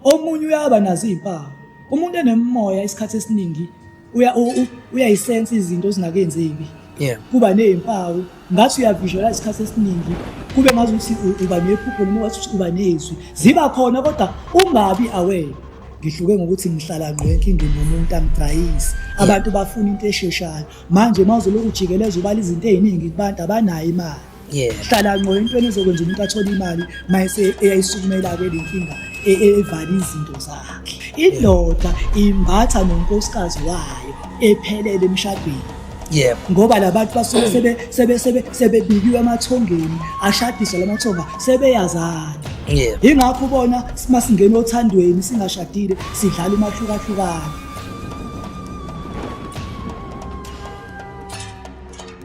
Omunye uyaba nazo izimpawu. Umuntu enemoya isikhathi esiningi uya uyayisense izinto ezinakenzeki. Yeah. Kuba nezimpawu ngathi uyavisualize isikhathi esiningi kube ngazi ukuthi uba nephupho noma wathi uba nezwi. Ziba khona kodwa ungabi aware. ngihluke ngokuthi ngihlala ngqo enkingeni yomuntu angidrayisi abantu bafuna into esheshayo manje uma uzolokhu ujikeleza ubala izinto ey'ningi kubantu abanayo imali yeah hlala ngqo into enizokwenza umuntu athole imali mayese eyayisukumela ke lenkinga e, e, evali izinto zakhe indoda imbatha nonkosikazi wayo ephelele emshadweni yebo ngoba labantu basuke sebe sebe sebe sebebikiwe amathongeni ashadisa lamathonga sebeyazana yebo ingakho ubona masingena othandweni singashadile sidlala umahlukahlukana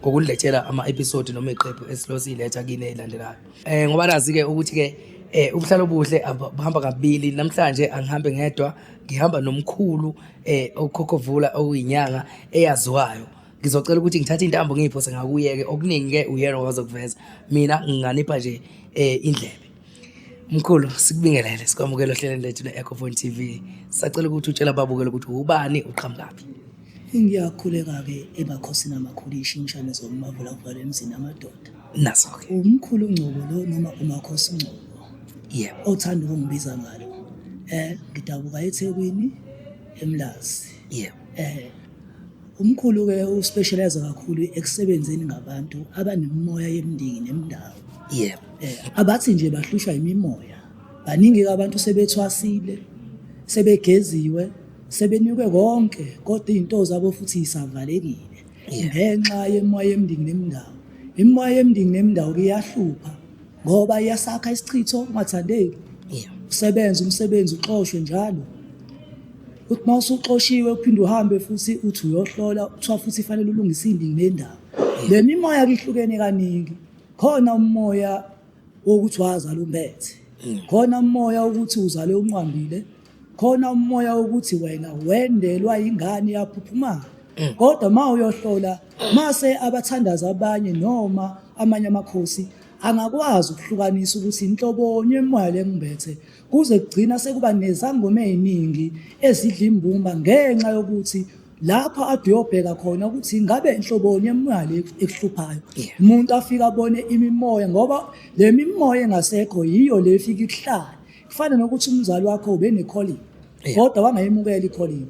ngokuniletshela ama-episode noma iqephu esilosiyiletha kini eyilandelayo um ngoba nazi-ke ukuthi-ke eh ubuhlalo obuhle buhamba kabili namhlanje angihambe ngedwa ngihamba nomkhulu eh okhokhovula okuyinyanga eyaziwayo ngizocela ukuthi ngithathe intambo ngiyiphose ngakuyeke okuningi ke uyena wazokuveza mina nginganipha nje eh indlebe Mkhulu sikubingelele sikwamukela ohlelweni lethu le-Ecophone TV. Sacela ukuthi utshele ababukeli ukuthi ubani uqhamukaphi. Ngiyakhuleka-ke ebakhosini amakhulu ishintshane zomavula kuvala emzini amadoda. Naso-ke. Umkhulu Ngcobo lo noma umakhosi Ngcobo Yebo. othanda ukungibiza ngalo. Eh ngidabuka eThekwini eMlazi. Yebo. Eh Umkhulu-ke uspeshalayiza kakhulu ekusebenzeni ngabantu abanemimoya yemndeni nemndawo. Yebo. Eh, abathi nje bahlushwa imimoya. Baningi abantu sebethwasile, sebegeziwe, sebenikwe konke kodwa izinto zabo futhi isavalekile ngenxa yemoya yemndeni nemndawo. Imimoya yemndeni nemndawo iyahlupha ngoba iyasakha isichitho ungathandeki. Usebenza umsebenzi uxoshwe njalo. uthi uma usuxoshiwe uphinde uhambe futhi uthi uyohlola kuthiwa futhi fanele ulungise indini nendawo le mimoya kihlukene kaningi khona umoya wokuthi wazala umbethe hmm. khona umoya wokuthi uzale unqwambile khona umoya wokuthi wena wendelwa ingane yaphuphumala hmm. kodwa uma uyohlola mase abathandazi abanye noma amanye amakhosi angakwazi ukuhlukanisa ukuthi inhlobonye emoya lengimbethe kuze kugcina sekuba nezangoma eziningi ezidla imbumba ngenxa yokuthi lapho aduyobheka khona ukuthi ingabe inhloboni yemali ekuhluphayo umuntu afika abone imimoya ngoba le mimoya engasekho yiyo le ifika ikuhlala kufana nokuthi umzali wakho ube ne-calling kodwa wangayemukela i-calling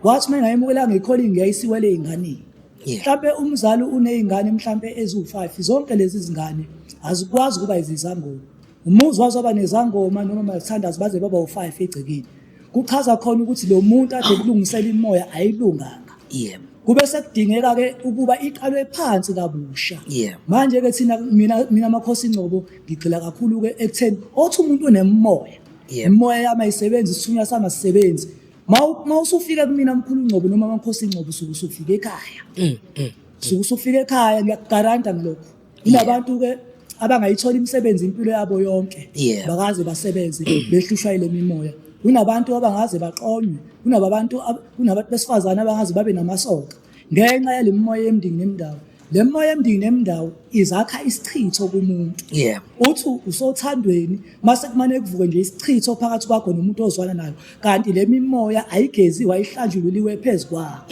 wathi uma engayemukelanga i-calling yayisiwele ey'nganeni mhlampe umzali uney'ngane mhlampe eziwu-five zonke lezi zingane azikwazi ukuba izizangoma Umuzi waze waba nezangoma noma amathandazi baze baba u-five egcekeni. Kuchaza khona ukuthi lo muntu ade kulungisela imoya ayilunganga. Yebo. Kube sekudingeka ke ukuba iqalwe phansi kabusha. Yebo. Manje ke thina mina mina makhosi Ngcobo ngigxila kakhulu ke ekutheni othi umuntu unemoya. Yebo. Imoya yami ayisebenzi isithunywa sami asisebenzi. Mawu- Mawusufika kumina mkhulu Ngcobo noma makhosi Ngcobo usuke usufika ekhaya. Mm, mm. Usuke usufika ekhaya ngiyakugaranta ngilokho. inabantu ke abangayithola imisebenzi impilo yabo yonke Yeah. bakaze basebenze behlushwa ile mimoya kunabantu abangaze baqonywe kunabantu ab- kunabantu besifazane abangaze babe namasoka ngenxa yale mimoya yemndingi nemndawo le mimoya yemndingi nemndawo izakha isichitho kumuntu Yeah. uthi usothandweni mase kumane kuvuke nje isichitho phakathi kwakho nomuntu ozwana nayo kanti le mimoya ayigeziwe ayihlanjululiwe phezu kwakho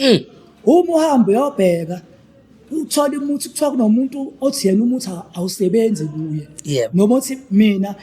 uma uhambe uyobheka uthola umuthi kuthiwa kunomuntu othi yena umuthi awusebenzi kuye yep. noma othi mina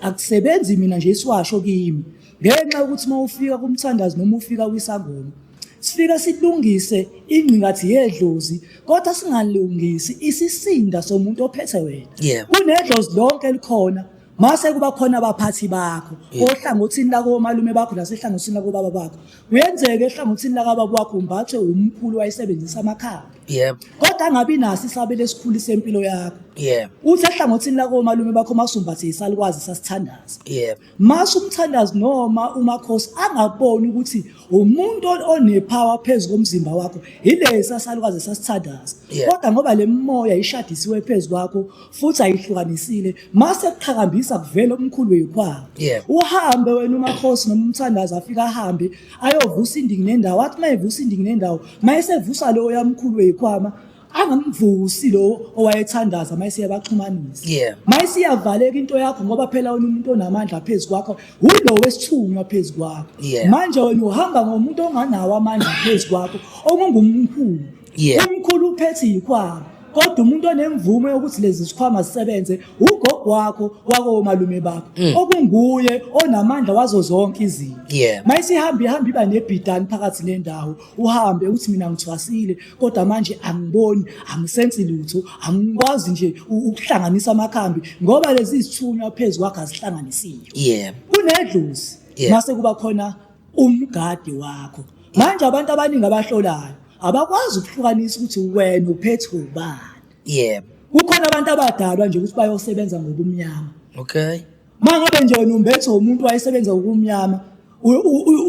akusebenzi mina nje isiwasho kimi ngenxa yokuthi uma ufika kumthandazi noma ufika kwisangoma sifika silungise ingqingathi yedlozi kodwa singalungisi isisinda somuntu ophethe wena yep. kunedlozi lonke elikhona mase kuba khona abaphathi bakho ohlangothini lakomalume bakho nasehlangothini lakobaba bakho kuyenzeka ehlangothini lakababa wakho umbathwe umkhulu wayesebenzisa amakhala yebo kodwa angabi naso isabelo esikhulu sempilo yakho yebo uthi ehlangothini lakomalume bakho masumbathe isalikwazi sasithandaza yebo masho umthandazi noma umakhosi angaboni ukuthi umuntu onepower phezu komzimba wakho yilesi asalikwazi sasithandaza Yebo. kodwa ngoba le mimoya ishadisiwe phezu kwakho futhi ayihlukanisile mase kuqhakambisa kuvela umkhulu weyikhwaba yeah. uhambe wena umakhosi noma umthandazi afika ahambe ayovusa indingi nendawo athi uma evusa indingi nendawo uma esevusa lowo yamkhulu weyikhwama angamvusi lo owayethandaza mayise yabaxhumanisa yeah. mayise iyavaleka into yakho ngoba phela wena umuntu onamandla phezu kwakho wulo wesithunywa phezu kwakho yeah. manje wena uhamba ngomuntu onganawo amandla phezu kwakho okungumkhulu yeah umkhulu uphethe ikhwama kodwa umuntu onemvume yokuthi lezi zikhwama zisebenze ugogo wakho wakomalume bakho mm. okunguye onamandla wazo zonke izinto yeah. mayisihamba ihamba iba nebhidani phakathi nendawo uhambe uthi mina ngithwasile kodwa manje angiboni angisensi lutho angikwazi nje ukuhlanganisa amakhambi ngoba lezi zithunywa phezu kwakhe azihlanganisiyo yeah. kunedlozi yeah. mase kuba khona umgadi wakho manje abantu abaningi abahlolayo abakwazi ukuhlukanisa ukuthi wena uphethe ubani yebo kukhona abantu abadalwa nje ukuthi bayosebenza ngobumnyama okay mangabe nje wena umbethe umuntu wayesebenza ngobumnyama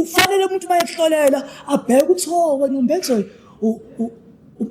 ufanele umuntu mayehlolela abheke ukuthi ho oh, wena umbethe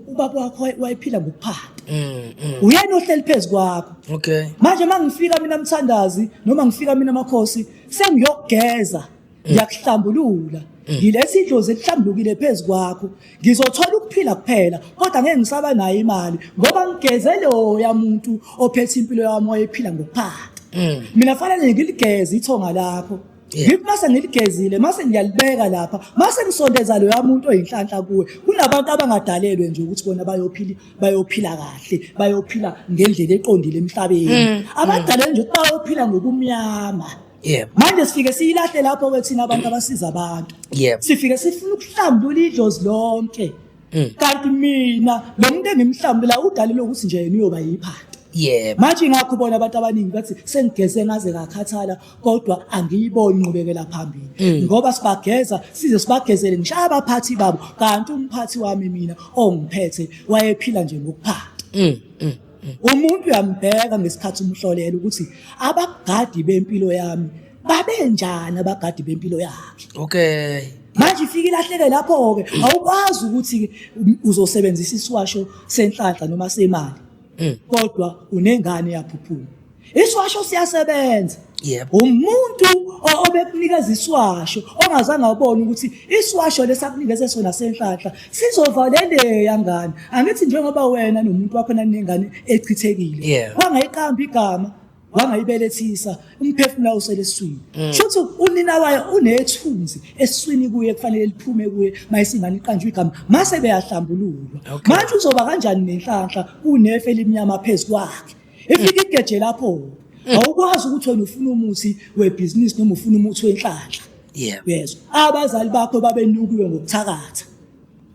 ubaba wakho wayephila ngokuphanda mm, mm. uyena ohleli phezu kwakho okay manje mangifika mina mthandazi noma ngifika mina makhosi sengiyokugeza ngiyakuhlambulula ngilesi idlozi elihlambulukile phezu kwakho ngizothola ukuphila kuphela kodwa ngeke ngisaba nayo imali ngoba ngigeze loya muntu ophethe impilo yami oyephila ngokuphaka mm. mina fanele ngiligeze ithonga lakho ngithi mase ngiligezile mase ngiyalibeka lapha mase ngisondeza loya muntu oyinhlanhla kuwe kunabantu abangadalelwe nje ukuthi bona bayophila bayophila kahle bayophila ngendlela eqondile emhlabeni mm. abadalelwe nje ukuthi bayophila ngobumnyama Yebo. manje sifike siyilahle lapho ke thina abantu abasiza abantu Yebo. sifike sifuna ukuhlambulula idlozi lonke Mm. kanti mina lo muntu engimhlambula udalile ukuthi nje yena uyoba yiphanda Yebo. manje ngakho bona abantu abaningi bathi sengigeze ngaze ngakhathala kodwa angiyiboni inqubekela phambili Mm. ngoba sibageza size sibagezele ngisho abaphathi babo kanti umphathi wami mina ongiphethe wayephila nje ngokuphanda Mm. mm. Umuntu uyambheka ngesikhathi umhlolela ukuthi abagadi bempilo yami babenjani abagadi bempilo yakhe. Okay. Manje ifike ilahleke lapho-ke awukwazi ukuthi uzosebenzisa isiwasho senhlanhla noma semali. Kodwa unengane yaphuphuka. Iswasho siyasebenza. Yebo. Umuntu o- obekunikeza iswasho ongazange abone ukuthi iswasho lesakunikeze sona senhlanhla sizovaleleya ngane. Angithi njengoba wena nomuntu wakho nanengane echithekile. Yeah. Wangayiqamba igama, wangayibelethisa, umphefumulo usele eswini. Mm. Shothi unina wayo unethunzi eswini kuye kufanele liphume kuye mayisingane iqanjwe igama. Mase beyahlambululwa. Okay. Manje uzoba kanjani nenhlanhla unefe elimnyama phezu kwakhe? efika igeje lapho awukwazi ukuthi wena ufuna umuthi webhizinisi noma ufuna umuthi wenhlanhla yebo yezwa abazali bakho babenukiwe ngokuthakatha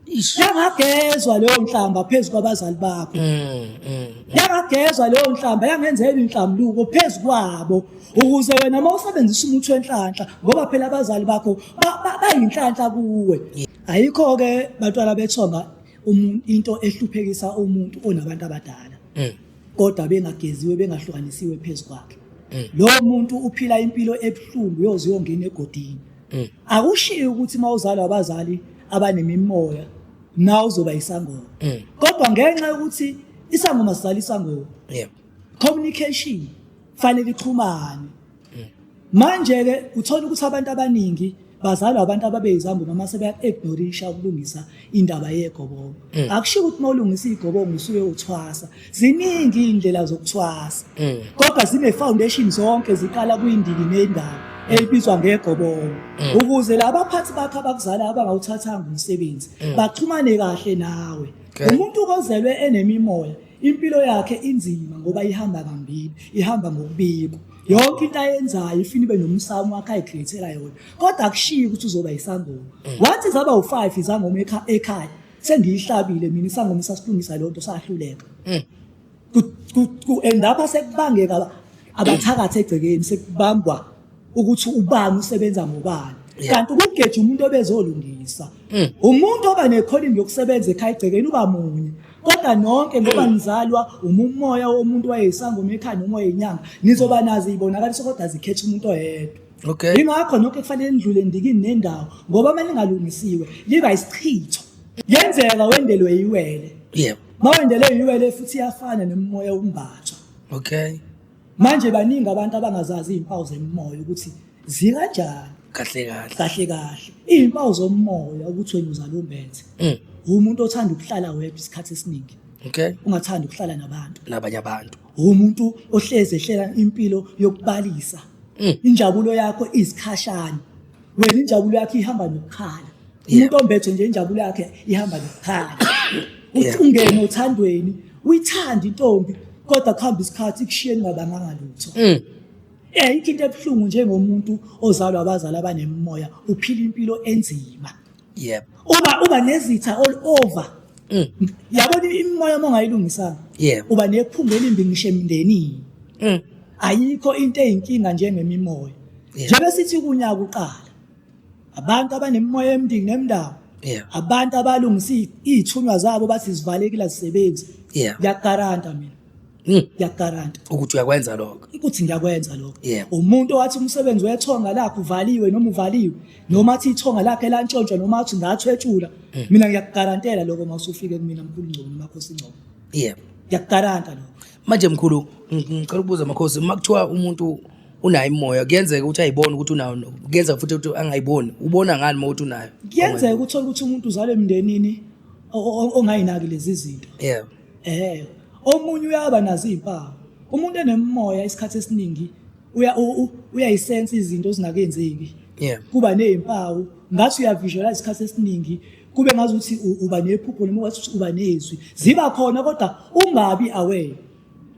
Ish. yangagezwa leyo nhlamba phezu kwabazali bakho Mm, mm. yangagezwa leyo nhlamba yangenzela inhlambuluko phezu kwabo ukuze wena uma usebenzisa umuthi wenhlanhla ngoba phela abazali bakho ba- ba- bayinhlanhla kuwe ayikho-ke bantwana bethonga umu- into ehluphekisa umuntu onabantu abadala mm. kodwa bengageziwe bengahlukanisiwe phezu kwakhe mm. lo muntu uphila impilo ebuhlungu yoze uyongena egodini mm. akushiye ukuthi uma uzalwa abazali abanemimoya na uzoba isangoma mm. kodwa ngenxa yokuthi isangoma sizala isangoma yeah. communication fanele ixhumane manje ke uthola ukuthi abantu abaningi bazalwa abantu ababeyizambu noma sebeya-ignorisha ukulungisa indaba yegobongo mm. akushiwo ukuthi uma ulungisa igobongo usuke uthwasa ziningi iy'ndlela zokuthwasa mm. kodwa zine-foundation zonke ziqala kuyindiki nendawo mm. elibizwa ngegobongo ukuze laba phathi bakho abakuzalayo abangawuthathanga umsebenzi baxhumane kahle nawe umuntu ozelwe enemimoya Impilo yakhe inzima ngoba ihamba kambili, ihamba ngokubikwa. Yonke into ayenzayo ifuna ibe nomsamo wakhe ayikhrethela yona. Kodwa akushiyi ukuthi uzoba isangoma. Wathi zaba u5 izangoma ekha- ekhaya. Sengiyihlabile mina isangoma sasilungisa lonto sahluleka. Ku- ku- ku- and lapha sekubangeka aba- abathakathi egcekeni sekubangwa ukuthi ubani usebenza ngobani kanti ukugeja umuntu obezolungisa mm. umuntu oba nekholini yokusebenza ekhaya egcekeni uba munye kodwa nonke ngoba mm. nizalwa umumoya womuntu wayeyisangoma ekhaya noma wayeyinyanga nizoba nazi ibonakaliso kodwa zikhetha umuntu oyedwa okay ingakho nonke kufanele nidlule ndikini nendawo ngoba uma lingalungisiwe liba isichitho yenzeka wendelwe iwele yebo mawendelwe iwele futhi iyafana nemimoya umbathwa okay manje baningi abantu abangazazi iy'mpawu zemimoya ukuthi zikanjani kahle kahle kahle kahle iy'mpawu zomoya ukuthi wena uzala umbenze Mm. umuntu othanda ukuhlala wedwa isikhathi esiningi okay ungathanda ukuhlala nabantu nabanye abantu umuntu ohlezi ehlela impilo yokubalisa Mm. injabulo yakho izikhashana wena injabulo yakho ihamba nokukhala umuntu ombethe nje injabulo yakhe ihamba nokukhala uthi ungene othandweni uyithanda intombi kodwa kuhamba isikhathi ikushiyeni ngabanganga lutho mm. eh into ebuhlungu njengomuntu ozalwa abazali abanemimoya uphila impilo enzima yebo uba uba nezitha all over mm. yabona imimoya uma ungayilungisanga yebo uba nephunga elimbi ngisho emndenini mm. ayikho into eyinkinga njengemimoya njengoba sithi kunyaka uqala abantu abanemimoya emndini nemndawo abantu abalungisa iy'thunywa zabo bathi zivalekile azisebenzi ngiyakugaranta mina Hmm. ngiyakugaranta ukuthi uyakwenza lokho ukuthi ngiyakwenza lokho umuntu owathi umsebenzi wethonga lakhe uvaliwe noma uvaliwe noma athi ithonga lakhe lantshontshwa noma athi ngathwetshula hmm. mina ngiyakugarantela lokho uma usufike kumina mkhulu ngcono makhosi ngcono yebo ngiyakugaranta lokho manje mkhulu ngicela ukubuza makhosi uma kuthiwa umuntu unayo imoya kuyenzeka ukuthi ayibone ukuthi unayo kuyenzeka futhi ukuthi angayiboni ubona ngani uma ukuthi unayo kuyenzeka uthole ukuthi umuntu uzalwe emndenini ongayinaki lezi zinto yebo Eh, omunye uyaba nazo izimpawu. Umuntu enemimoya isikhathi esiningi uya uyayisensa izinto ezinakenzeki. Yeah. Kuba nezimpawu ngathi uyavisualize isikhathi esiningi kube ngazi ukuthi uba nephupho noma wathi uba nezwi. Ziba khona kodwa ungabi aware.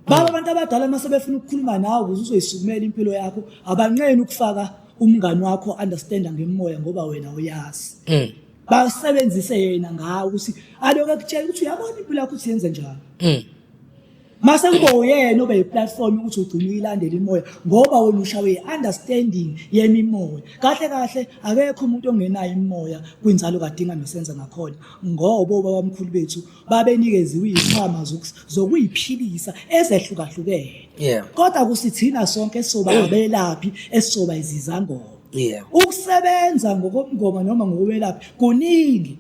Baba mm. abantu abadala uma sebefuna ukukhuluma nawe ukuze uzoyisukumela impilo yakho abanqeni ukufaka umngani wakho understanda ngemoya ngoba wena uyazi. Mm. basebenzise yena ngawo ukuthi aloku ekutshela ukuthi uyabona impilo yakho ukuthi yenze njani mm. mase kube uyena obe yiplatform ukuthi ugcine uyilandela imoya ngoba wena ushawe i-understanding yemimoya kahle kahle akekho umuntu ongenayo imimoya kwinzalo kadinga nosenza ngakhona ngoba obabamkhulu bethu babenikeziwe izikhwama zokuyiphilisa ezehlukahlukene yeah. kodwa kusithina sonke esizoba ngabelaphi esizoba izizangoma yeah. ukusebenza ngokomngoma noma ngokwelaphi kuningi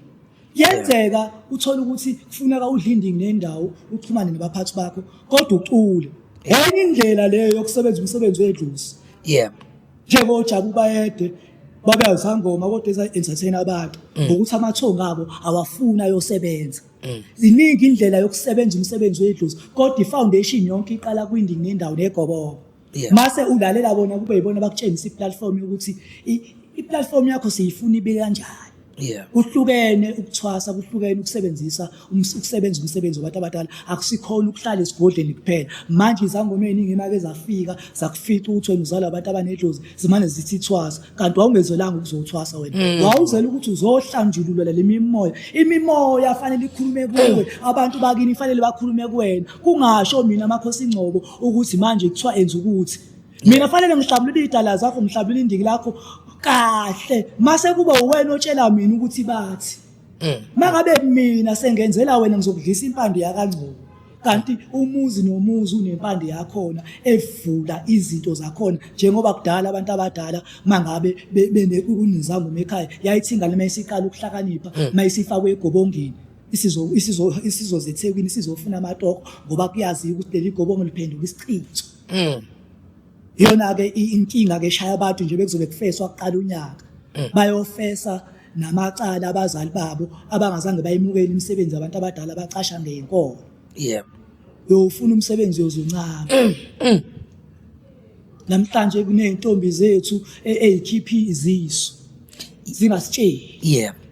yenzeka uthole ukuthi kufuneka udlinding nendawo uxhumane nabaphathi bakho kodwa ucule enye indlela leyo yokusebenza umsebenzi wedlusi yeah njengoba ojabu bayede babe awusangoma kodwa eza-entertain abantu mm. ngokuthi amathongo abo awafuni ayosebenza mm. ziningi indlela yokusebenza umsebenzi wedlozi kodwa i-foundation yonke iqala kwindini nendawo negobobo mase ulalela bona kube yibona bakutshengisa i-platform yokuthi i-platform yakho siyifuna ibe kanjani yeah kuhlukene ukuthwasa kuhlukene ukusebenzisa ukusebenza umsebenzi wabantu abadala akusikhona ukuhlala esigodleni kuphela manje izangoma eziningi imake zafika zakufica ukuthi wena uzalwa abantu abanedlozi zimane zithi ithwasa kanti wawungezelanga ukuzothwasa wena mm. wawuzela ukuthi uzohlanjululwa le mimoya imimoya fanele ikhulume kuwe abantu bakini fanele bakhulume kuwena kungasho mina amakhosi ingcobo ukuthi manje kuthiwa enza ukuthi mina fanele ngihlabulule iy'dala zakho ngihlabulule indiki lakho kahle mase kuba uwena otshela mina ukuthi bathi Mm. mangabe mina sengenzela wena ngizokudlisa impande yakangcobo kanti umuzi nomuzi unempande yakhona evula izinto zakhona njengoba kudala abantu abadala mangabe be- bene- kunezangoma ekhaya yayithinga lema isiqala ukuhlakanipha mayisifakwe egobongeni isizo- isizo- isizozethekwini isizofuna amatoko ngoba kuyaziwa ukuthi leli gobongo liphenduka isichitho Mm. Yona ke inkinga ke shaya abantu nje bekuzobe kufeswa kuqala unyaka. Mm. Bayofesa namacala abazali babo abangazange bayimukele imisebenzi abantu abadala bacasha ngenkolo. Yebo. Uyofuna umsebenzi yozuncama. Mm, mm. Namhlanje kuneyintombi zethu e-, ezikhiphi izisu. Zingasitsheli. Yebo.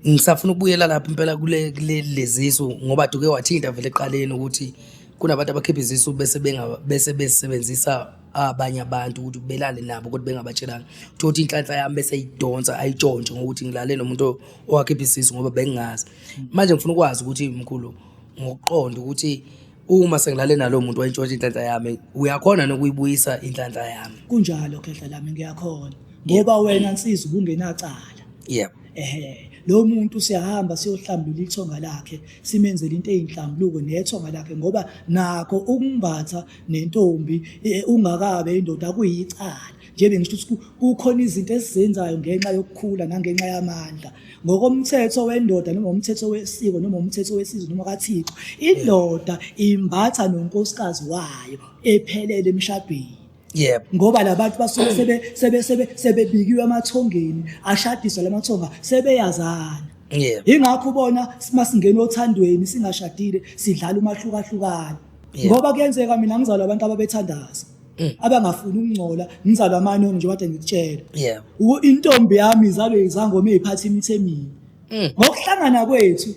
ngisafuna ukubuyela lapha impela kule lezisu ngoba duke wathinta vele eqaleni ukuthi kunabantu abakhipha izisu bese benga- bese besebenzisa abanye abantu ukuthi belale nabo kodwa bengabatshelanga uthola ukuthi inhlanhla yami bese idonsa ayitshontshe ngokuthi ngilale nomuntu owakhipha isisu ngoba bengingazi manje ngifuna ukwazi ukuthi mkhulu ngokuqonda ukuthi uma sengilale nalowo muntu wayintshontsha inhlanhla yami uyakhona nokuyibuyisa inhlanhla yami kunjalo khehla lami ngiyakhona ngoba wena nsizwa ubungenacala yebo ehe lo muntu siyahamba siyohlambulula ithonga lakhe simenzele into eyinhlambuluko nethwa ngalaphe ngoba nakho ukumbatha nentombi e, ungakabe indoda kuyicala njebe ngisho ukuthi kukhona izinto esizenzayo ngenxa yokukhula nangenxa yamandla ngokomthetho wendoda noma umthetho wesiko noma umthetho wesizwe noma kaThixo indoda imbatha nonkosikazi wayo ephelele emshadweni yebo ngoba labantu basuke sebe sebe sebe sebebikiwe amathongeni ashadiswa lamathonga sebeyazana yebo ingakho ubona masingena othandweni singashadile sidlala umahlukahlukana Yebo. ngoba kuyenzeka mina ngizalwa abantu ababethandaza Mm. abangafuni ukungcola ngizalwa amanoni nje kade ngikutshela yebo U- intombi yami izalwe izangoma eziphatha imithi emini Mm. ngokuhlangana kwethu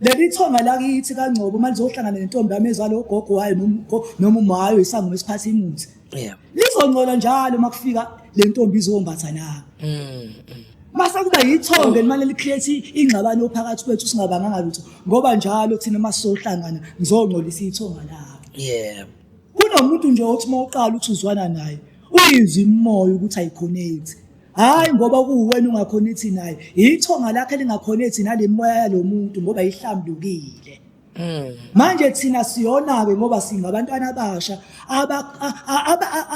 Leli thonga lakithi kaNgcobo manje uzohlangana nentombi yami ezalo gogo wayo nomgo noma umayo isangoma esiphatha imuthi. Yeah. Lizongcola njalo makufika le ntombi izombatha nami. Mm. mm. Mase kuba yithonga elimane licreate ingxabano ophakathi kwethu singabanganga lutho ngoba njalo thina masohlangana ngizongcolisa ithonga lakho. Yeah. Kunomuntu nje othi mawuqala uthi uzwana naye uyizwa imoya ukuthi ayikhonekthi. hayi ngoba kuwuwena ungakhona ithi naye ithonga lakhe lingakhona ithi nale moya yalo muntu ngoba ihlambukile hmm. manje thina siyona-ke ngoba singabantwana abasha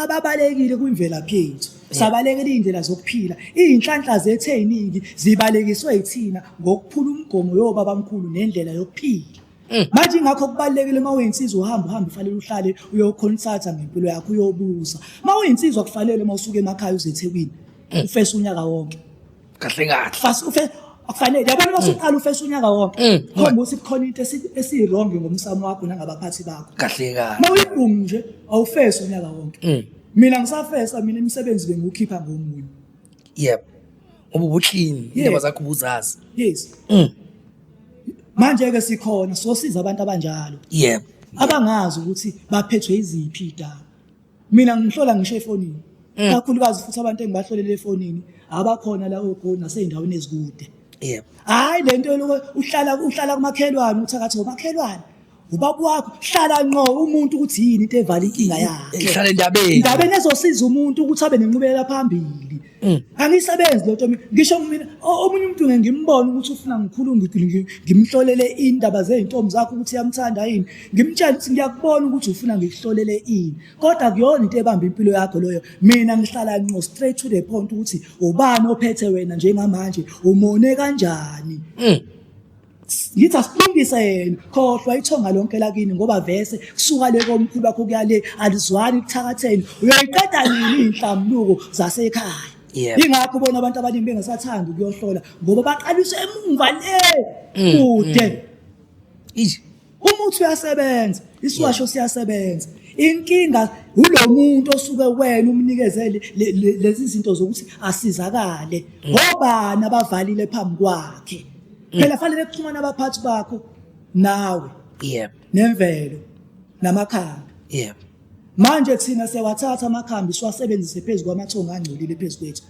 ababalekile kwimvelaphi yethu sabalekela iy'ndlela zokuphila iy'nhlanhla zethu ey'ningi zibalekiswe yithina ngokuphula umgomo yobabamkhulu nendlela yokuphila Mm. manje ingakho kubalulekile uma uyinsizwa uhamba uhambe ufanele uhlale uyokhonsatha ngempilo yakho uyobuza uma uyinsizwa kufanele uma usuke emakhaya uze ethekwini mm. ufese unyaka wonke kahle kahle fast ufese akufanele yabona uma usuqala ufese unyaka wonke mm. khomba ukuthi kukhona into esiyirongi ngomsamo wakho nangabaphathi bakho kahle kahle uma uyibhungu nje awufese unyaka wonke mina ngisafesa mina imisebenzi bengiwukhipha ngomunye yep ububuhlini indaba zakho ubuzazi yes manje ke sikhona sosiza abantu abanjalo yebo abangazi ukuthi baphethwe iziphi idaba mina ngihlola ngisho efonini mm. kakhulukazi futhi abantu engibahlolele efonini abakhona la ogoli nasey'ndaweni ezikude yebo hhayi le nto uhlala uhlala kumakhelwane uthakathi ngomakhelwane ubaba wakho hlala nqo umuntu ukuthi yini into evala inkinga yakhe ngihlale endabeni indabeni ezosiza umuntu ukuthi abe nenqubekela phambili Mm. angisebenzi lo nto mina ngisho mina o- omunye umuntu ngeke ngimbone ukuthi ufuna ngikhulu ngi- ngi- ngimhlolele indaba zey'ntombi zakho ukuthi uyamthanda yini ngimtshele ukuthi ngiyakubona ukuthi ufuna ngikuhlolele ini kodwa kuyona into ebamba impilo yakho loyo mina ngihlala nqo straight to the point ukuthi ubani ophethe wena njengamanje umone kanjani Mm. yithi asibindise yena khohlwa ithonga lonke lakini ngoba vese kusuka le komkhulu wakho kuya le alizwani kuthakatheni uyoyiqeda nini iy'nhlambuluko zasekhaya Yebo. yingakho ubona abantu abaningi bengasathandi ukuyohlola ngoba baqaliswe emuva le kude Eish. umuthi uyasebenza isiwasho siyasebenza inkinga ulo muntu osuke wena umnikeze lezi zinto zokuthi asizakale ngobani abavalile phambi kwakhe phela fanele kuxhumana abaphathi bakho nawe yebo nemvelo namakhambi yebo manje kuthina sewathatha amakhambi siwasebenzise phezu kwamathongo angcolile phezu kwethu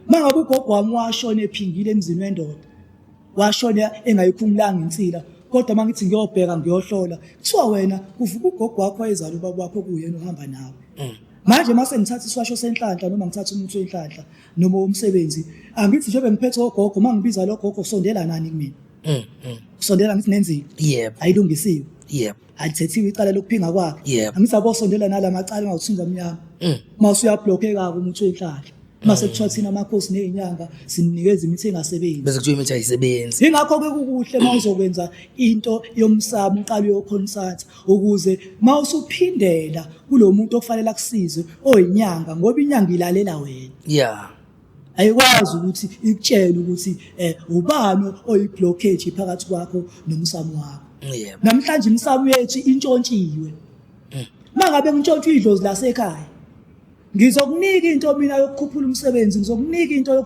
mangabe ugogo wami washona ephingile emzini wendoda washona engayikhumulanga insila kodwa uma ngithi ngiyobheka ngiyohlola kuthiwa wena kuvuka ugogo wakho wayezala ubaba wakho kuyena uhamba nawe mm. manje uma sengithatha isiwasho senhlanhla noma ngithatha umuthi wenhlanhla noma womsebenzi angithi njengoba ngiphethe ogogo uma ngibiza logogo usondela nani kumina mm, mm. usondela ngithi nenzile yebo ayilungisiwe yebo alithethiwe icala lokuphinga kwakhe Yebo. angisabosondela nala macala engawuthinga mnyama Mm. uma usuyablokheka-ke umuthi wenhlahla uma sekuthiwa thina amakhosi ney'nyanga simnikeza imithi engasebenzi bese kuthiwa imithi ayisebenzi yingakho-ke kukuhle uma uzokwenza into yomsamo uqala uyokhonsatha ukuze uma usuphindela kulo muntu okufanele akusize oyinyanga ngoba inyanga ilalela wena ya ayikwazi ukuthi ikutshele ukuthi um ubani oyi-blockage phakathi kwakho nomsamo wakho yebo namhlanje imisamu yethu intshontshiwe mm. mangabe kuntshontshwa idlozi lasekhaya ngizokunika into mina yokukhuphula umsebenzi ngizokunika into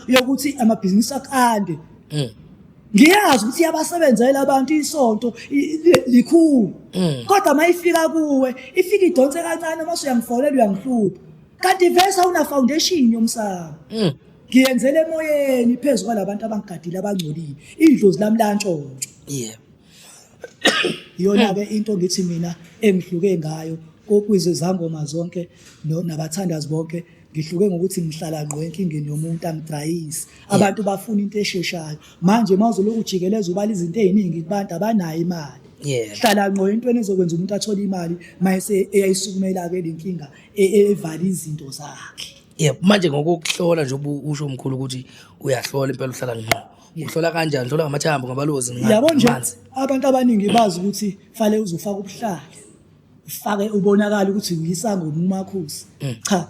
yokuthi amabhizinisi akande mm. ngiyazi ukuthi iyabasebenzela abantu isonto likhulu mm. kodwa uma ifika kuwe ifika idonse kancane uma usuyangifonela uyangihlupha kanti vese awuna foundation yomsamo mm. ngiyenzele emoyeni phezu kwalabantu abangigadile abangcolile idlozi lami lantshontsho yeah iyona ke into ngithi mina engihluke ngayo kokwize zangoma zonke nabathandazi bonke ngihluke ngokuthi ngihlala ngqo enkingeni yomuntu angidayisi abantu bafuna into esheshayo manje mawuzoloku ujikeleza ubala izinto eziningi kubantu abanayo imali hlala ngqo entweni ezokwenza umuntu athole imali mayese eyayisukumela ke lenkinga e- e- evale izinto zakhe yebo manje ngokuhlola nje ubu- usho umkhulu ukuthi uyahlola impela uhlala ngqo uhlola kanjani uhlola ngamathambo ngabalozi nga- yabo nje ngamanzi. abantu abaningi bazi ukuthi fale uzofaka ubuhlali ufake ubonakala ukuthi uyisango ngumakhosi cha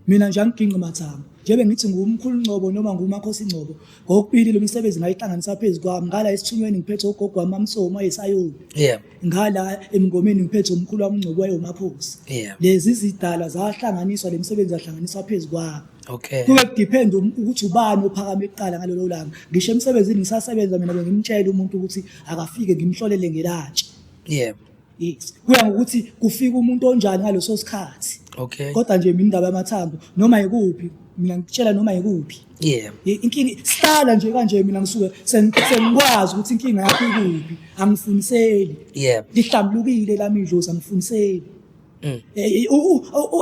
mina nje angigingqi mathambo njebe ngithi ngumkhulu ngcobo noma ngumakhosi ngcobo ngokubili lo misebenzi ngayihlanganisa phezu kwami ngala esithunyweni ngiphethe ugogo wami amsomi wayesayoni yeah. ngala emngomeni ngiphethe umkhulu wami ungcobo wayewumaphosi yeah. lezi zidalwa zahlanganiswa le misebenzi yahlanganiswa phezu kwami okay. kube kudepend um, ukuthi ubani ophakame kuqala ngalolo langa ngisho emsebenzini ngisasebenza mina bengimtshela umuntu ukuthi akafike ngimhlolele ngelatshe yeah. Yes. Kuya ngokuthi kufika umuntu onjani ngaleso sikhathi. Okay. Kodwa nje mina indaba yamathambo noma yikuphi mina ngitshela noma yikuphi. Yeah. Inkingi sihlala nje kanje mina ngisuke sengikwazi ukuthi inkinga yakho ikuphi. Angifuniseli. Yeah. Lihlambulukile lami idlozi angifuniseli. Mm. Eh, eh,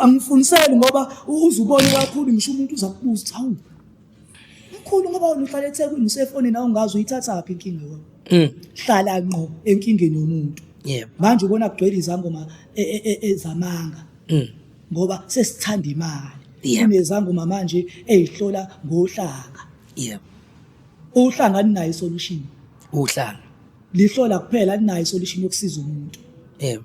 angifuniseli ngoba uzubona kakhulu ngisho umuntu uzakubuza ukuthi hawu Mkhulu ngoba wena uhlala eThekwini usefonini awungazi uyithathaphi inkinga yakho. Mm. Hlala ngqo enkingeni yomuntu. Yebo. Manje ubona kugcwele izangoma e- e- e- ezamanga Mm. ngoba sesithanda imali. Yebo. Kunezangoma manje ezihlola ngohlanga. Yebo. Uhlanga alinayo solution. Uhlanga. Lihlola kuphela alinayo solution yokusiza umuntu. Yebo.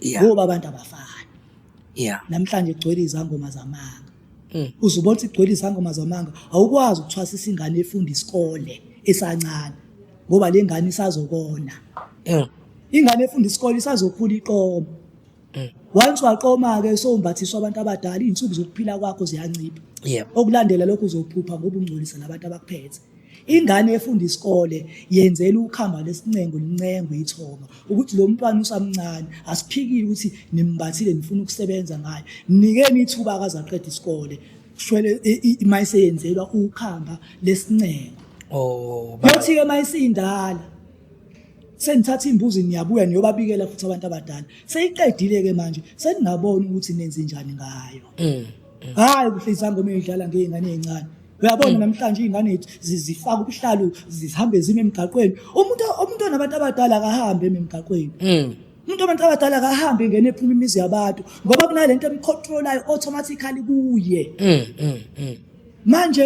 Yeah. ngoba abantu abafani yeah namhlanje kugcwele izangoma zamanga Mm. uze ubona ukuthi kugcwele izangoma zamanga awukwazi ukuthwasisa ingane efunda isikole esancane ngoba le ngane isazokona Mm. ingane efunda isikole isazokhula iqoma Mm. once waqoma-ke sowumbathiswa abantu abadala iy'nsuku zokuphila kwakho ziyancipha yeah okulandela lokho uzophupha ngoba ungcolisa nabantu abakuphethe ingane efunda isikole yenzela ukhamba lesincengo lincengo ithoma ukuthi lo mntwana usamncane asiphikile ukuthi nimbathile nifuna ukusebenza ngayo nikeni ithuba akazaqeda isikole shwele mayiseyenzelwa ukhamba lesincengo oh bathi ke mayisindala senithatha imbuzi niyabuya niyobabikela futhi abantu abadala seyiqedile ke manje seningabona ukuthi nenze njani ngayo mm, mm. hayi kuhlisa ngoma idlala ngeyingane ezincane uyabona namhlanje iy'ngane yethu zifaka ubuhlalu zihambe zime emgaqweni umuntu umuntu onabantu abadala akahambe eme emgaqweni mm. umuntu onabantu abadala akahambe ngene ephuma imizi yabantu ngoba kunale nto emcontrolayo automatically kuye mm, mm, manje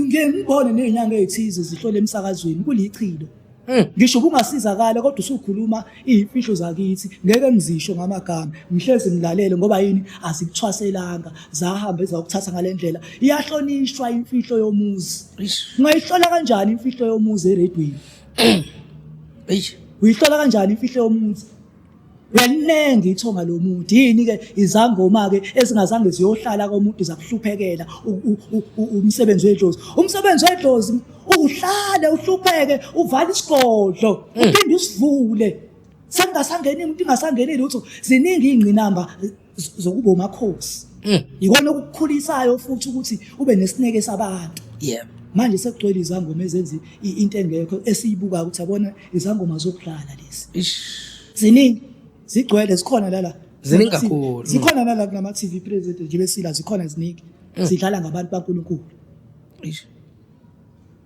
ngiyembone ney'nyanga ey'thize zihlole emsakazweni kulichilo Eh. ngisho ubungasizakala kodwa usukhuluma iy'mfihlo zakithi ngeke ngizisho ngamagama ngihlezi ngilalele ngoba yini azikuthwaselanga zahambe zawukuthatha ngale ndlela iyahlonishwa imfihlo yomuzi ungayihlola kanjani imfihlo yomuzi eredweni uyihlola kanjani imfihlo yomuzi yaninengi ithonga lomuntu yini ke izangoma ke ezingazange ziyohlala komuntu zakuhluphekela umsebenzi wedlozi umsebenzi wedlozi uhlale uhlupheke uvala isigodlo hmm. uphinde usivule sengasangeni umuntu ingasangeni lutho ziningi ingqinamba zokuba umakhosi mm. yikona okukukhulisayo futhi ukuthi ube nesineke sabantu yeah manje sekugcwele izangoma ezenza into engekho esiyibukayo ukuthi abona izangoma zokudlala lezi ziningi zigcwele zikhona lala ziningi kakhulu zikhona nala kulama TV present nje besila zikhona ziningi mm. zidlala ngabantu baNkulunkulu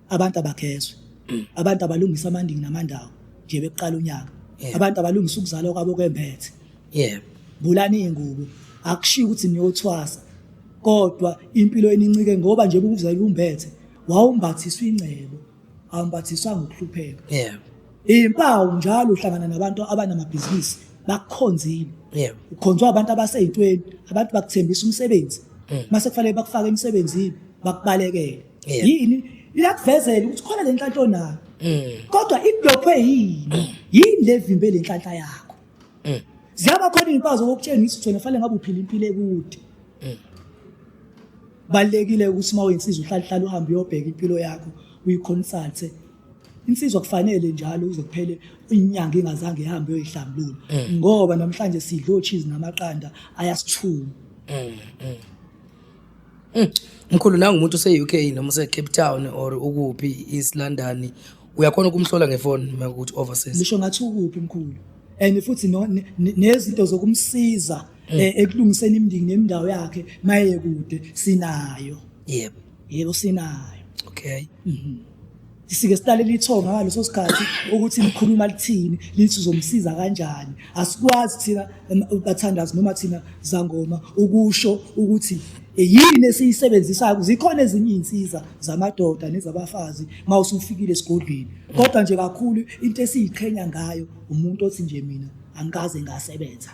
abantu abagezwe mm. abantu abalungisa amandingi namandawo nje bekuqala unyaka abantu abalungisa ukuzalwa kwabo kwemphethe yebo bulani ingubo akushiya ukuthi niyothwasa kodwa impilo enincike ngoba nje ukuzala umbethe wawumbathiswa ingcebo awumbathiswa ngokuhlupheka yebo impawu njalo uhlangana nabantu abanamabhizinisi bakukhonzile yebo ukhonzwa abantu abaseyintweni abantu bakuthembisa umsebenzi mm. mase kufanele bakufake emsebenzini bakubalekele yini iyakuvezela ukuthi khona lenhlanhla onayo mm. kodwa iblockwe yini mm. yini levimbe lenhlanhla yakho mm. ziyaba khona izimpawu zokutshengisa ukuthi wena fanele ngabe uphila impilo ekude balekile ukuthi uma uyinsizwa uhlalihlala uhambe uyobheka impilo yakho uyiconsulte insizwa kufanele njalo uze kuphele inyanga ingazange ihambe uyoyihlambulula ngoba namhlanje sidlo cheese namaqanda ayasithuma Hmm. Mkhulu nangu umuntu use-UK noma use-Cape Town or ukuphi East London uyakhona ukumhlola ngefoni makuthi overseas. Ngisho ngathi ukuphi mkhulu. And futhi nezinto zokumsiza hmm. eh, ekulungiseni imindiki nemindawo yakhe maye kude sinayo. Yebo. Yebo sinayo. Okay. Mhm. sike silalele ithonga ngaleso sikhathi ukuthi likhuluma lithini lithi uzomsiza kanjani asikwazi thina bathandazi noma thina zangoma ukusho ukuthi e, yini esiyisebenzisayo zikhona ezinye iy'nsiza zamadoda nezabafazi uma usufikile esigodlweni kodwa nje kakhulu into esiyiqhenya ngayo umuntu othi nje mina angikaze ngasebenza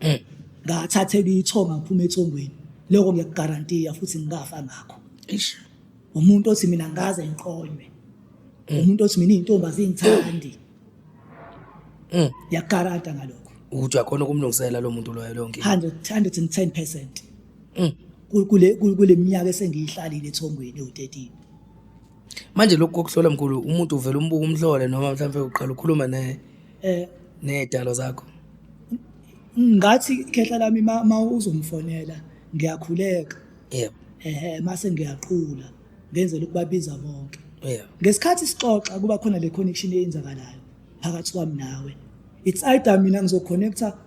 eh. ngathathela ithonga ngiphuma ethongweni lokho ngiyakugarantiya futhi ngikafa ngakho umuntu othi mina ngaze ngiqonywe mm. umuntu othi mina izintombi azingithandi mm. yakarata ngalokho ukuthi uyakhona ukumlungisela lo muntu loyo lonke 100 110% mm. kule kule minyaka esengiyihlalile ethongweni u13 manje lokho kokuhlola mkhulu umuntu uvela umbuka umhlole noma mhlawumbe uqala ukhuluma ne eh nedalo zakho ngathi khehla lami ma uzomfonela ngiyakhuleka yebo ehe mase ngiyaqula ngenzela ukubabiza bonke yebo ngesikhathi sixoxa kuba khona le connection eyenzakalayo phakathi kwami nawe it's either mina ngizoconnecta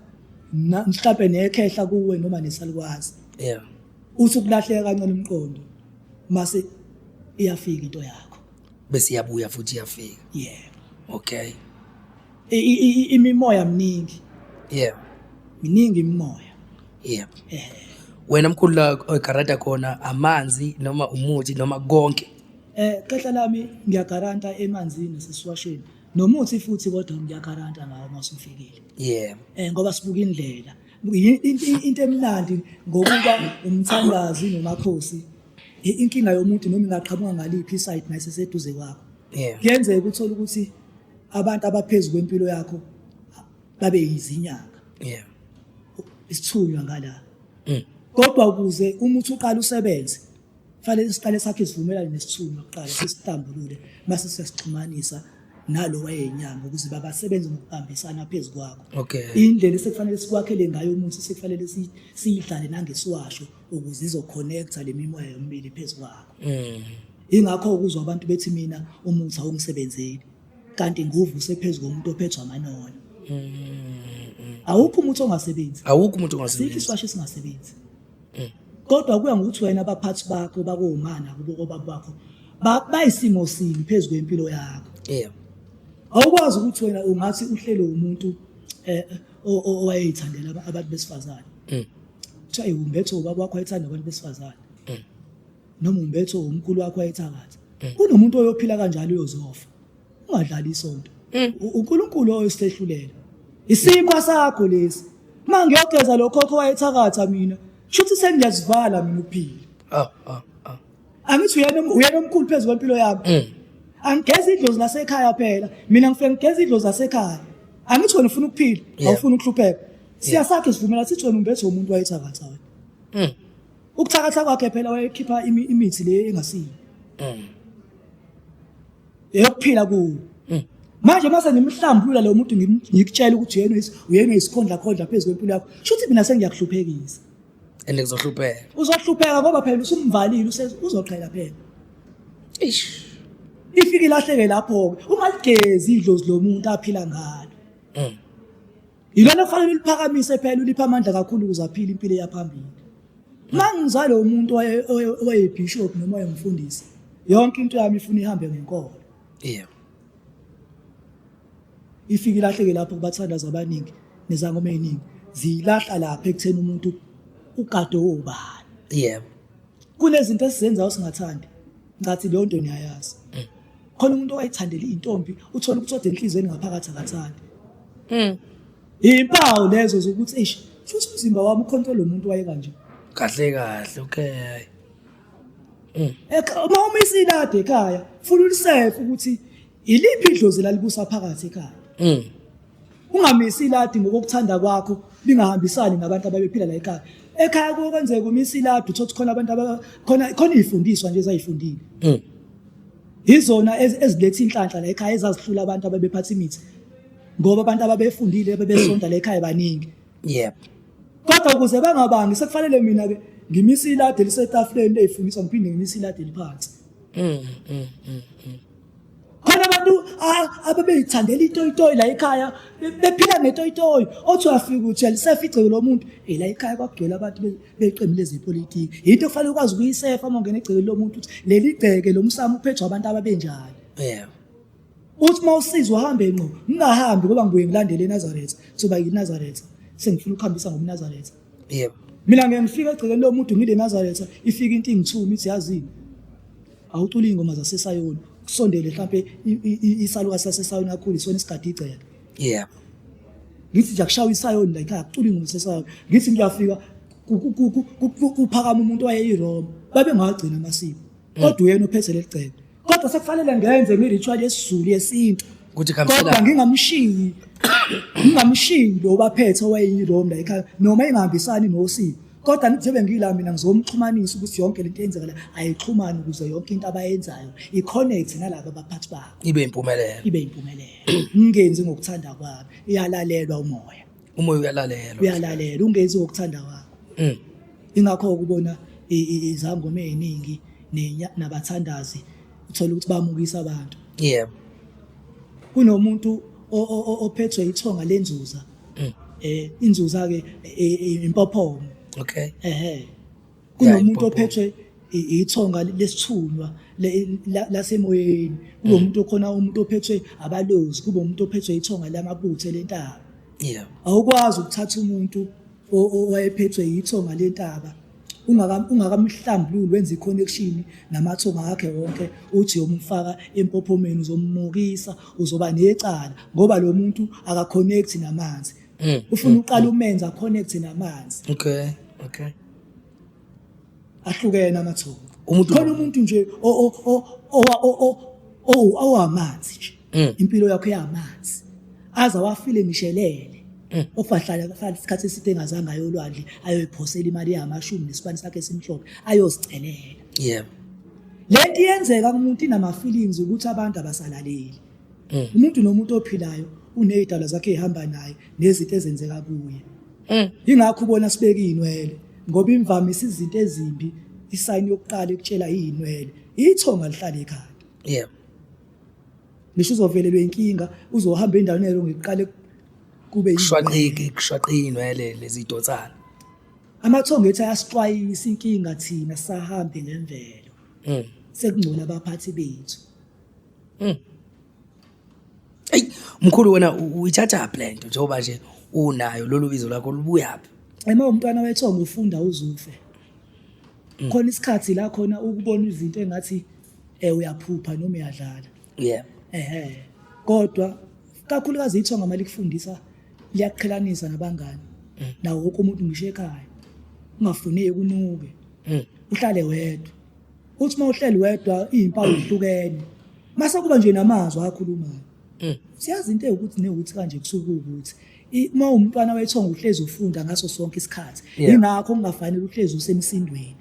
na- mhlampe nekhehla kuwe noma nesalukwazi yebo uthi ukulahleka kancane umqondo mase iyafika into yakho bese iyabuya futhi iyafika yebo okay I- i- i- imimoya miningi yebo miningi imimoya yebo eh. wena mkhulu la oyigaranta khona amanzi noma umuthi noma konke eh khehla lami ngiyagaranta emanzini sesiwashweni nomuthi futhi kodwa ngiyagaranta ngawo masufikile yebo eh ngoba sibuka indlela into emnandi ngokuba umthandazi nomakhosi inkinga yomuntu noma ingaqhamuka ngaliphi isayidi naye seseduze kwakho kuyenzeka uthole ukuthi abantu abaphezu kwempilo yakho babe yizinyanga yeah isithunywa ngala mm. kodwa ukuze umuthi uqala usebenze fanele siqale sakhe isivumelane nesithunywa kuqala sisitambulule mase siyasixhumanisa nalo wayenyanga ukuze babasebenze ngokubambisana phezu kwakho okay indlela esekufanele sikwakhele ngayo umuthi sekufanele siyidlale nangesiwasho ukuze izoconnecta le mimoya yomibili phezu kwakho mm. ingakho ukuzwa abantu bethi mina umuthi awungisebenzeli kanti nguvu usephezu komuntu ophethwa amanono awukho umuntu ongasebenzi awukho umuntu ongasebenzi sikho iswasho esingasebenzi mm. kodwa kuya ngokuthi wena abaphathi bakho bakomana kubo obaba bakho bayisimo sini phezu kwempilo yakho yeah awukwazi ukuthi wena ungathi uhlelo umuntu eh owayeyithandela abantu besifazane mm. kuthiwa iwumbetho ubaba wakho ayithanda abantu besifazane noma umbetho umkhulu wakho wayethakatha mm. kunomuntu oyophila kanjalo uyozofa ungadlali isonto mm. uNkulunkulu oyosihlulela isimo sakho lesi uma ngiyogeza lo khokho wayethakatha mina shuthi sengiyazivala mina ukuphila ah, ah, ah. angithi uyena omkhulu phezu kwempilo yami mm. angigeza idlozi lasekhaya phela mina ngifike ngigeza idlozi lasekhaya angithi wena ufuna ukuphila awufuni ukuhlupheka siyasakhe sivumela sithi wena umbethe womuntu wayethakatha wena Ukuthakatha kwakhe phela wayekhipha imi- imithi le engasiyo. Eyokuphila ku. Manje mase ngimhlambulula lo muntu ngim- ngikutshela ukuthi uyena is- uyena isikhondla khondla phezulu kwempilo yakho. Shuthi mina sengiyakuhluphekisa. and kuzohlupheka Uzohlupheka ngoba phela usumvalile use- uzoqhela phela. ish Ifike ilahleke lapho ke. Ungaligezi idlozi lomuntu aphila ngalo. Yilona kufanele uliphakamise phela ulipha amandla kakhulu ukuze aphile impilo eyaphambili. Mangizale umuntu owayebishop noma oyemfundisi yonke into yami ifuna ihambe ngenkolo. Yebo. Ifike ilahleke lapho kubathandaza abaningi nezangoma eziningi ziyilahla lapha ekutheni umuntu ugade obani. Yebo. Kunezinto esizenzayo singathandi ngathi leyo nto niyayazi. Mm. khona umuntu owayithandela intombi uthola ukuthi ode enhlizweni ngaphakathi akathandi mm. impawu lezo zokuthi eish futhi umzimba wami ukhonto lo muntu waye kanje kahle kahle okay mm. uma umisile ade ekhaya funa ulisefe ukuthi iliphi idlozi lalibusa phakathi ekhaya mm. Ungamisi iladi ngokuthanda kwakho lingahambisani nabantu ababephila la ekhaya. Ekhaya kuke kwenzeka umisa iladi uthothi khona abantu khona khona izifundiswa nje ezayifundile. Mm. Izona ezilethe inhlanhla la ekhaya ezazihlula abantu ababephatha imithi. Ngoba abantu ababefundile bebesonta la ekhaya baningi. Yep. Kodwa ukuze bangabangi sekufanele mina ke ngimisa iladi lisetafuleni leyifundiswa ngiphinde ngimisa iladi liphansi. Mm. Mm. Mm. khona abantu abebeyithandela itoyitoyi la ekhaya bephila ngetoyitoyi othi uyafika ukuthi alisefa igceke lomuntu e la ekhaya kwakugcwele abantu beqembu lezepolitiki yinto okufanele ukwazi ukuyisefa uma ungena egcekeni lomuntu ukuthi leli gceke lo msamo uphethwa abantu ababenjani yebo uthi uma usiza uhambe ngqo ngingahambi ngoba ngibuye ngilandele enazaretha soba yinazaretha sengifuna ukuhambisa ngomnazaretha yebo mina ngeke ngifike egcekeni lo muntu ngile nazaretha ifike into ingithuma ithi yazini awucula iy'ngoma zasesayoni kusondele mhlawumpe isaluka sasesayoni akhulu isona isigadi igceke yebo ngithi nje akushaywa isayoni la ikhaya kucula iy'ngoma zasesayoni ngithi ngiyafika kuphakama umuntu wayeyiroma babengawagcina amasiko mm. kodwa uyena uphethe leli cebo kodwa sekufanele ngenze imiritual yesizulu yesintu ukuthi kodwa ngingamshiyi ngingamshiyi lo baphethe owayeyilomla ekhaya noma engahambisani nosiko kodwa ngizobe ngila mina ngizomxhumanisa ukuthi yonke lento eyenzeka la ayixhumane ukuze yonke into abayenzayo i-connect nalabo baphathi bakho ibe impumelelo ibe impumelelo ngingenzi ngokuthanda kwami iyalalelwa umoya umoya uyalalelwa uyalalelwa ungenzi okuthanda kwakho mm. ingakho ukubona izangoma eziningi nabathandazi uthola ukuthi bamukisa abantu yebo kunomuntu ophethwe ithonga lenzuza mm. eh inzuza ke e, e, impophomo okay ehe kunomuntu ophethwe ithonga lesithunywa lasemoyeni kube umuntu mm. okhona umuntu ophethwe abalozi kube umuntu ophethwe ithonga lamabuthe lentaba yeah awukwazi ukuthatha umuntu owayephethwe yithonga lentaba ungakamhlambululi wenza i-connection namathonga akhe wonke uthi yomfaka empophomeni uzomumukisa uzoba necala ngoba lo muntu akakhonekthi namanzi mm, ufuna mm, uqala umenza connect namanzi okay okay ahlukene amathongo umuntu khona umuntu nje o o o o o owamanzi nje mm. impilo yakho yamanzi aza wafile ngishelele mm. ofahlala kahlala isikhathi eside engazange ayolwandle ayoyiphosela imali yamashumi nesibani sakhe esimhlophe ayozicelela yebo lento iyenzeka kumuntu inama feelings ukuthi abantu abasalaleli mm. umuntu nomuntu ophilayo uney'dalwa zakhe ey'hamba naye nezinto ezenzeka kuye mm. yingakho ubona sibeke iy'nwele ngoba imvamisa izinto ezimbi isayini yokuqala ekutshela iy'nwele ithonga lihlale ekhanda yeah ngisho uzovelelwa inkinga uzohamba endaweni elo ngiqale kube kushwaqiki kushwaqiki inwele lezidonsana amathongo ethi ayasixwayisa inkinga thina sahambe nemvelo mm. sekungcola abaphathi bethu Mm. Ey, mkhulu wena uyithatha phi lento njengoba nje unayo lolu bizo lakho lubuya phi? Ema umntwana wethongo ufunda uzufe. Mm. Khona isikhathi la khona ukubona izinto engathi eh uyaphupha noma uyadlala. Yeah. Ehhe. Kodwa kakhulukazi ithonga mali kufundisa liyakuqhelanisa nabangani. Mm. Nawo wonke umuntu ngisho ekhaya. Ungafuneki unuke. Mm. Uhlale wedwa. uthi uma uhleli wedwa iy'mpawu zihlukene mase kuba nje namazwi akhulumayo mm. siyazi into ewukuthi newuthi kanje kusuke ukuthi uma umntwana wethonga uhlezi ufunda ngaso sonke isikhathi yingakho kungafanele uhlezi usemsindweni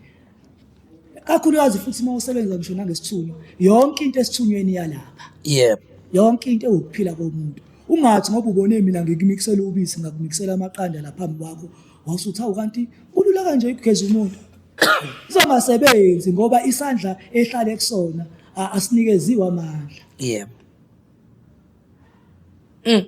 kakhulukazi futhi uma usebenza ngisho nangesithunywa yonke into esithunyweni yalapha yebo yonke into ewukuphila komuntu ungathi ngoba ubone mina ngikumiksela ubisi ngakumiksela amaqanda laphambi kwakho wasuthi hawu kanti kulula kanje ukugeza umuntu izongasebenzi ngoba isandla ehlale kusona a- asinikeziwe amandla yebo Mm.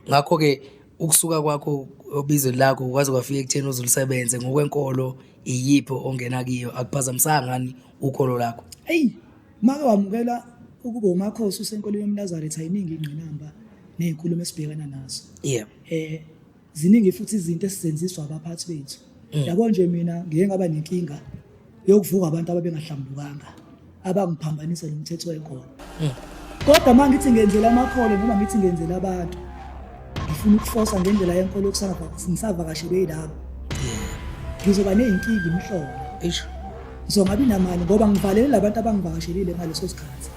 ngakho ke ukusuka kwakho obizweni lakho kwaze kwafika ekutheni uzulisebenze ngokwenkolo iyiphi ongena kiyo akuphazamisanga ngani ukholo lakho eyi make wamukela ukuba umakhosi usenkolweni yomnazaretha yiningi ingqinamba ney'nkulumo esibhekana nazo yebo um ziningi futhi izinto esizenziswa abaphathi bethu mm. yabo nje mina ngeke ngaba nenkinga yokuvuka abantu ababengahlambukanga abangiphambanisa nomthetho wekhona mm. kodwa uma ngithi ngenzela amakholo noma ngithi ngenzela abantu ngifuna ukufosa ngendlela yenkolo ngisavakashelwe yilabo ngizoba ney'nkinga imihlobo ngizokungabi namali ngoba ngivalelela abantu abangivakashelile ngaleso sikhathi